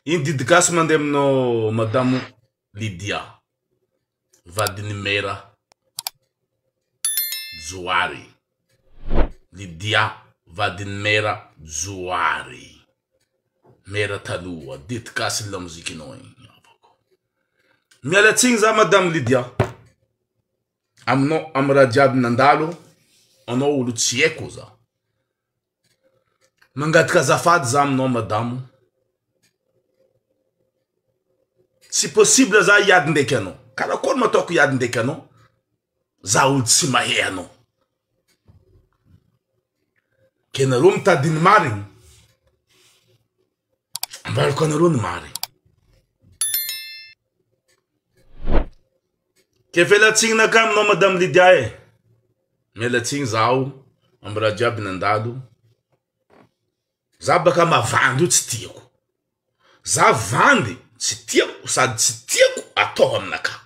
Iny didy gasy mandeha aminao madamo Lydia vadin'i Mera Johary Lydia vadin'i Mera Johary Mera taloha didy gasy ny lamozikinao iny havako Miala tsiny za madamo Lydia aminao amin'ny raha jiaby nandalo anao olo tsy haiko za Mangataka azafady za aminao madamo, tsy possible za hiady ndraiky anao, karakory ma ataoko hiady ndraiky anao za olo tsy mahe anao, ke nareo mitady ny marigny Ambarako anareo ny marina. Ke fela tsiny nakany nao madame Lydia eh. Miala tsiny zaho am raha jiaby nandalo. Za baka mavandy io tsy tiako. Za vandy tsy tiako sady tsy tiako atao aminakahy.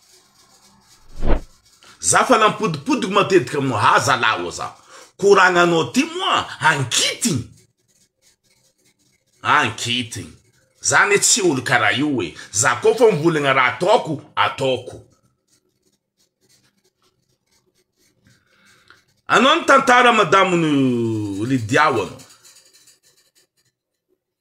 Za fa nampodipodiko matetika moa ha zalahy oa za. Ko raha gnanao ty moa ankitigny. Ankitigny. Za ne tsy olo karaha io e. Za ko fa mivolagna raha ataoko, ataoko. Anao ny tantara madamo Lydia oa anao.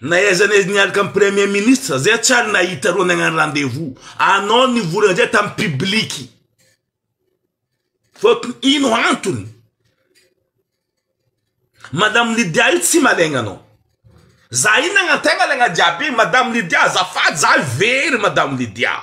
Na aiza na aiza niaraka amin'ny premier ministre zay tsy ary nahita reo nagnano rendez-vous anao nivolagna zay tamin'ny publique fa ino antony madame Lydia io tsy malaigna anao za io nagnantaignana jiaby madame Lydia azafady za very madame Lydia.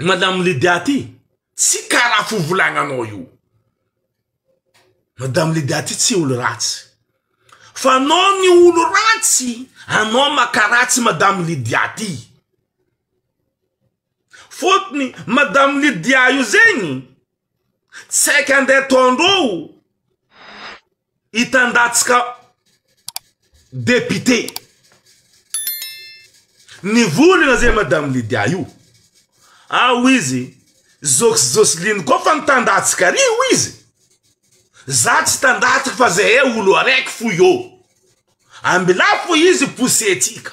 Madame Lydia ty tsy karaha fivolagnanao io. Madame Lydia ty tsy olo ratsy fa anao ny olo ratsy anao maka ratsy Madame Lydia ty. Fotony Madame Lydia io zegny tsy haika andeha ataondreo. Hitan-datsaka député ny volana zay madame Lydia io ao izy Zoky Jocelyne koa fa mitan-datsaka ry hoy izy za tsy hitan-datsaka fa zay olo araiky foy ô Ambilà fo izy poussetika.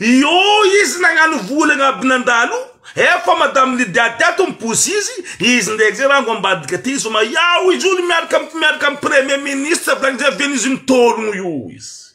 Io izy nagnano vola agnaby nandalo efa madame Lydia teto mipousy izy, izy ndraiky zay rango ambadika ty zoma iao izy io miaraka am miaraka am premier ministre avy agny zay venus mitologno io izy.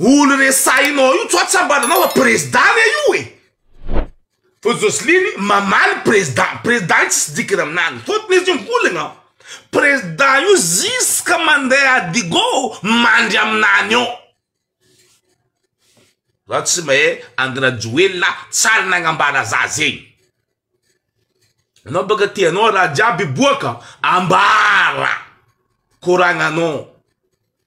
Olo resahinao io tso tsy ambaranao fa prezda ve io e? Fa Josliny mamaly prezda, prezda io tsisy dikany aminany fotony izy io mikolagna, prezda io ziska mandeha adigo mandry aminany ao. Za tsy mahay Andry Rajoelina tsy ary nagnambara za zegny. Anao baka tianao raha jiaby hiboaka ambara koragnanao.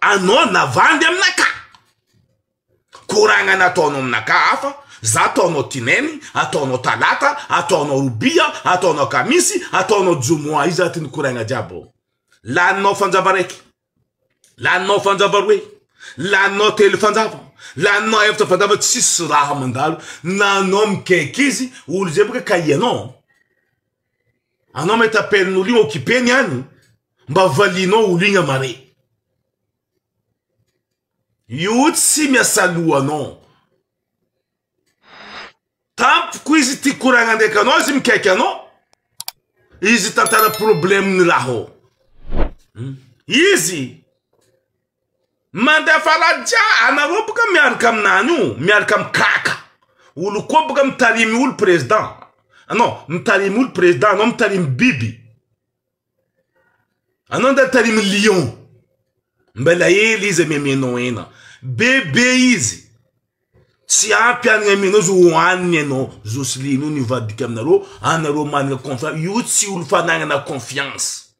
Anao navandy aminaka, koragnana ataonao aminaka hafa, za ataonao tinainy, ataonao talata, ataonao robia, ataonao kamisy, ataonao jomoa iza ty nikoragna jiaby ao. Laninao fanjava raiky, laninao fanjava roe, laninao telo fanjava, laninao efatra fanjava tsisy raha mandalo na anao mikaiky izy olo zay boka kay anao. Anao me t'appelle n'olo igny occupé ny any mba valianao olo igny amare io tsy miasa loha non tampoko izy ty koragna ndraiky anao izy mikaiky anao izy tantara problème ny raha ao hmm. izy Mandeha faladia anareo boka miaraka aminany io miaraka amin'ny kaka olo koa boka mitarimy olo president anao mitarimy olo president anao mitarimy biby anao nda mitarimy lion mbela ela izy amiamenao ena be be izy tsy ampy any amianao izy hohaniny ianao zosilian'io nivadika aminareo anareo manana confiance io tsy olo fanagnana confiance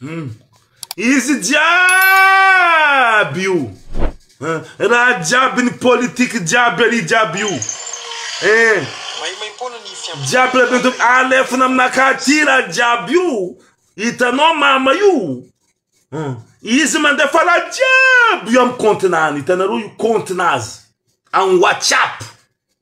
Hmm. Izy jiaby io. Eh, raha jiaby ny politique jiaby ali jiaby io. Eh. Jiaby raha bento alefina aminakahy ty raha jiaby io. Hitanao mama io. Hmm. Izy mandefa la jiaby io amin'ny kontinany. Hitanareo io kontina azy. Amin'ny WhatsApp.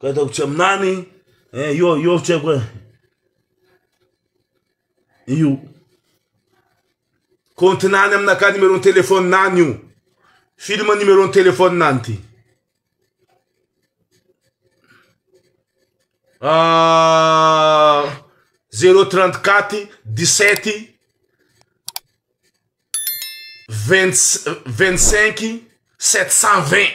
Ka ataoko tsy aminany eh, io io tsy haiko eh. Io kontinany aminakà numéro téléphone nany io film numéro téléphone nany ty ah, zéro trente quatre dix sept vingt vingt cinq sept cent vingt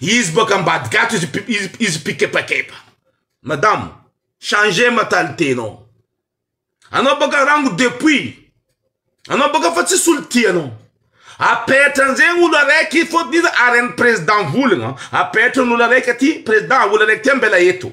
Izy boaka ambadika ato izy izy izy mpikepakepa. Madame, changer mentalité nao. Anao boaka rango depuis. Anao boaka fa tsisy olo tia anao. Apetra an'zegny olo araiky fôtony iza aren'ny président volagna. Apetra ny olo araiky aty, président olo araiky ty ambela eto.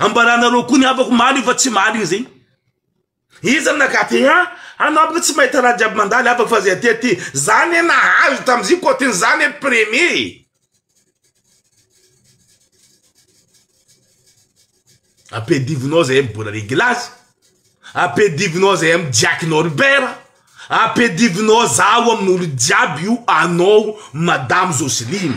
Ambaranareo koa ny havako marigny fa tsy marigny zegny. Iza no naka tena an? Anao boka tsy mahita raha jiaby mandalo havako fa zay aty aty. Za ne nahazo tamzio cote za ne premier e. Ampedivinao zay am bola reglazy. Ampedivinao zay am Jack Norbert. Ampedivinao zaho amin'olo jiaby io anao madame Joseline.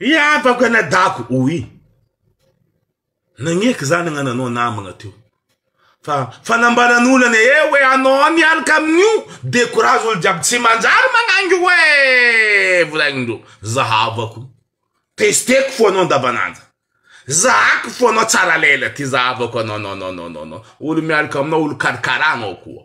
Ry havako anadahako, hoy i. Nagnehiko izany agnananao namagna teo. Fa fanambarana olana ee hoe anao miaraka amin'io dia courage olo jiaby tsy manjary magnangy hoe volagnindreo za havako testeko fo anao andavan'andro zahako fo anao tsara lela ty za havako anao non non non non olo miaraka aminao olo karakara anao koa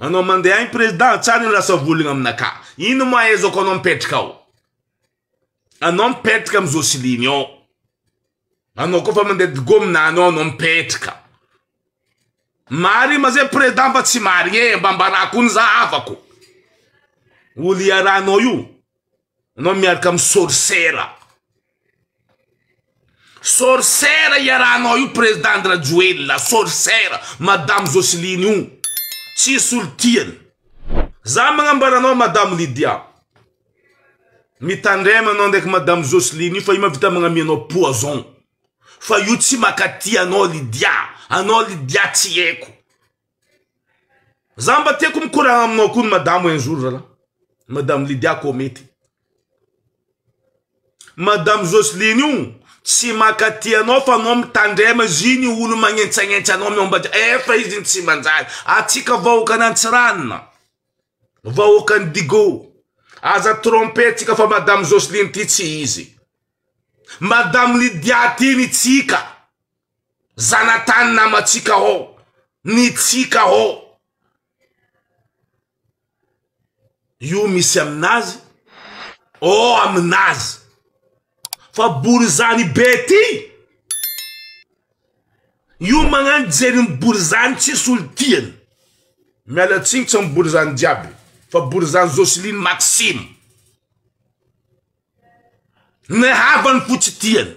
Anao mandeha any président tsara io lasa volagna aminakahy ino ma ahaizako anao mipetraka ao anao mipetraka am Joseline ao anao koa fa mandeha digomina any ao anao mipetraka marigny ma zay président va tsy marigny e mba ambarako ony za havako olo iarahanao io. Anao miaraka amin'ny sorcera. Sorcera iarahanao io président Andrajoelina, sorcera, madame Jocelyne io. Tsisy olo tiany. Za magnambara anao madame Lydia. Mitandrema anao ndraiky madame Jocelyne io fa io mahavita magnamia anao poison. Fa io tsy makatia anao Lydia. Anao Lydia tsy haiko. Za mba tiako mikoragna aminao koa ny madamo un jour zalah. Madame Lydia koa mety. Madame Jocelyne io tsy makaty anao fa anao mitandrema zy ny olo magnentsagnentsa anao miombaja efa izy ny tsy manjary. Atsika vahoakan' Antsiranana, vahoakan'i Digo, aza tromper tsika fa madame Jocelyne ty tsy izy. Madame Lydia ty ny tsika. Zanatany namantsika ô! Ny tsika ô! Io misy aminazy ô aminazy! Fa borizany be ty! Io magnano jery ny borizany tsy solon-tiany! Miala tsiny tsy amin'ny borizany jiaby fa borizany Jocelyne Maxime! Ny havany fotsy tiany!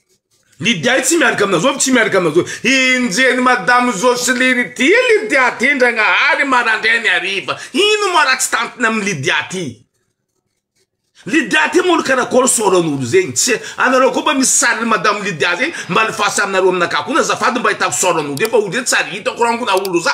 Ny diay tsy miaraka amina zovy tsy miaraka amina zovy. Enjehiny madame Jocelyne ity Lydia ty Ndragnahary marandraigny hariva. Ino moa raha tsy tantiny amin'i Lydia ty. Lydia ty moa karakôry sôran'olo zegny. Tsy anareo koa mba misy sarin'i madame Lydia zegny mba alefaso aminareo aminakahy koa azafady mba ahitako sôran'olo io fa olo io tsy ary hitako rangona olo za.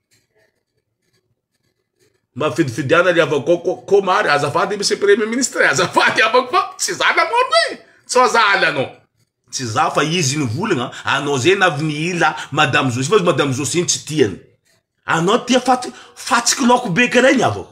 Mafidifidiana ry havako ko koma ary azafady monsieur premier ministre e, azafady havako fa tsy za namorona e, tsy fa za aly anao, tsy za fa izy nivolagna anao zay na avy nihila madame Zosia fa izy madame Zosia iny tsy tiany anao tia faty fatsiky laoko be kara iny havako.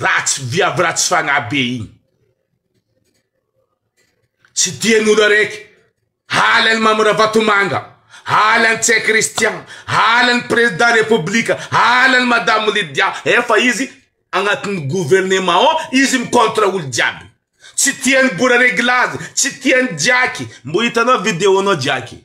Ratsy viavy ratsy fanahy be iny. Tsy tian'olo araiky. Halan'i Mamy Ravatomanga, halan'i Tse Christian, halan'i Président République, halan'i Madame Lydia. Efa izy agnatin'ny gouvernement ao, izy mi contre olo jiaby. Tsy tian'i Bora Reglazy, tsy tian'i Jiaky. Mbo hitanao video-nao Jiaky.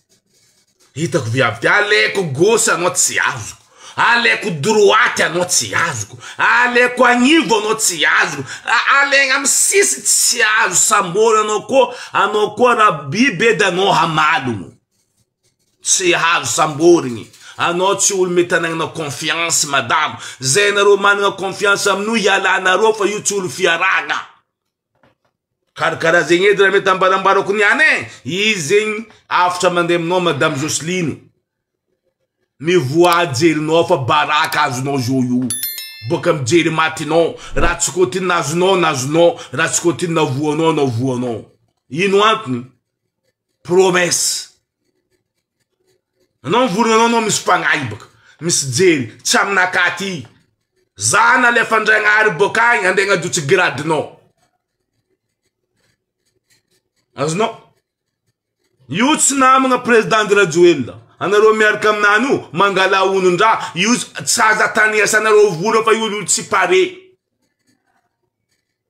Hitako viavy ty, aleko gauche anao tsy azoko, aleko droite anao tsy azoko, aleko agnivo anao tsy azoko, alegna amy sisiny tsy azo samborina anao koa, anao koa ra biby edy anao hamalogno, tsy azo samborigny, anao tsy olo mety anagnana confiance madama, zay nareo managna confiance amin'io ialanareo fa io tsy olo fiarahagna. Karakara zegny edy raha mety ambarambarako niany e, izy zegny avotra mandeha aminao madame Jocelyne, mivoaha jerinao fa baraka azonao zao io, boaka amin'ny jery matinao, raha tsy côte inona azonao na azonao, raha tsy côte inona voanao na voanao, ino antony? promesse anao mivonona anao anao misy mpanahy baka misy jery tsy aminakahy aty zah nalefandragnahary boka agny andeha agnajotsy grade nao azonao io tsy namagna président andry rajoelina anareo miaraka aminany io mangala honondraha io tsy aza ataniasanareo vola fa io olo tsy pare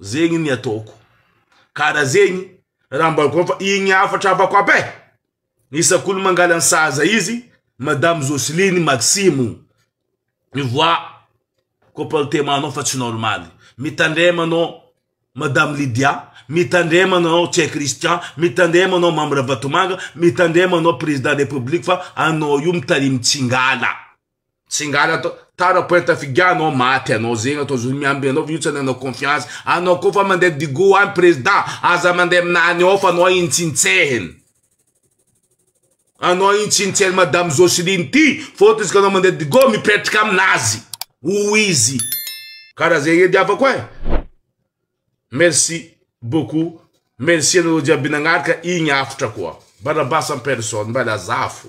Zegny ny ataoko. Kara zegny raha mba ko fa igny hafatra avako aby e. Isak'olo mangala ny sahaza izy madame Joceline Maximo. Mivoaha ko paltema anao fa tsy normaly. Mitandrema anao madame Lydia, mitandrema anao Tse Christian, mitandrema anao Mamy Ravatomanga, mitandrema anao président de la république fa anao io mitarimy tsingala. Tsingala atao tara poeta figa anao maty anao zegny atao zao miamby anao fa io tsy ananao confiance anao koa fa mandeha digo any président aza mandeha aminany ao fa anao igny tsintsehiny anao igny tsintsehiny madame Joceline ty fôtony izy ka anao mandeha digo mipetraka aminazy ho izy karaha zegny edy havako e merci beaucoup merci anareo jiaby nagnaraka igny hafatra koa Barabas en personne mba lazafo